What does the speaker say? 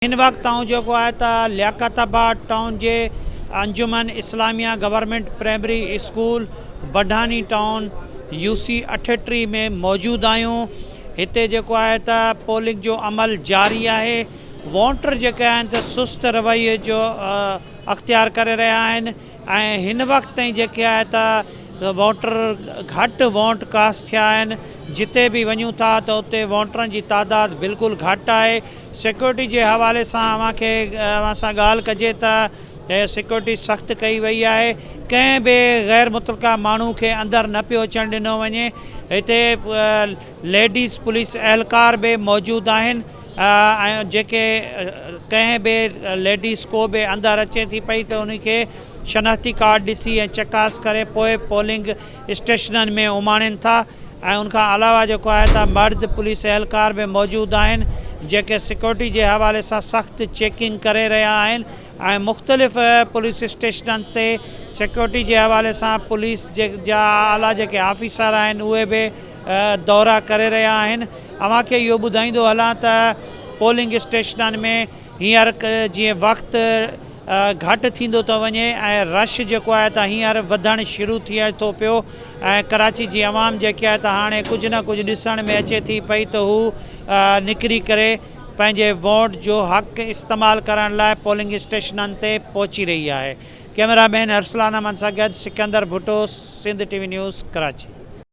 هن وقت آئون جيڪو آهي ته لياقت آباد ٽائون جي Anjuman Islamia government primary school Budhani town U C اٺٽيهه ۾ موجود آهيون هتي جيڪو آهي ته پولنگ جو عمل جاري آهي ووٽر جيڪي آهن ته سست رويي جو اختيار ڪري رهيا آهن ۽ هن وقت تائين جيڪي آهي ته ووٽر گهٽ ووٽ ڪاسٽ ٿيا آهن جتي به وڃون ٿا ته اتي ووٽرن جي تعداد بلڪل گهٽ آهي سيڪيورٽي جي حوالي سان اوهان کي اوهان سان ڳالهه ڪجي ته سيڪيورٽي سخت ڪئي وئي آهي ڪنهن به غير متلقه ماڻهو کي اندر نه پيو اچڻ ڏنو وڃي هتي ليڊيز پوليس اهلڪار به موجود آهن ۽ جيڪي ڪنهن به ليڊيز ڪو به اندر اچي ٿي پئي ته ان کي شناختي ڪارڊ ڏسي ۽ چڪاس ڪري پوء پولنگ اسٽيشنن ۾ اماڻين ٿا ۽ ان کان علاوه جيڪو آهي ته مرد پوليس اهلڪار به موجود آهن جيڪي سيڪيورٽي جي حوالي سان سخت چيڪنگ ڪري رهيا آهن ۽ مختلف پوليس اسٽيشنن تي سيڪيورٽي جي حوالي سان پوليس جا اعليٰ جيڪي آفيسر آهن اهي به دورا ڪري رهيا آهن اوهان کي اهو ٻڌائيندو هلان ته پولنگ اسٽيشنن ۾ هينئر جيئن وقت گهٽ ٿيندو ٿو وڃي ۽ رش جيڪو آهي ته هينئر وڌڻ شروع ٿئي ٿو پيو ۽ ڪراچي جي عوام جيڪي آهي ته هاڻي ڪجهه نه ڪجهه ڏسڻ ۾ اچي ٿي پئي ته هو نڪري ڪري پنهنجي ووٽ جو حق استعمال ڪرڻ لاء پولنگ اسٽيشنن تي پهچي رهي آهي ڪئميرا مين ارسلان احمد سان گڏ Sikandar Bhutto Sindh T V news Karachi.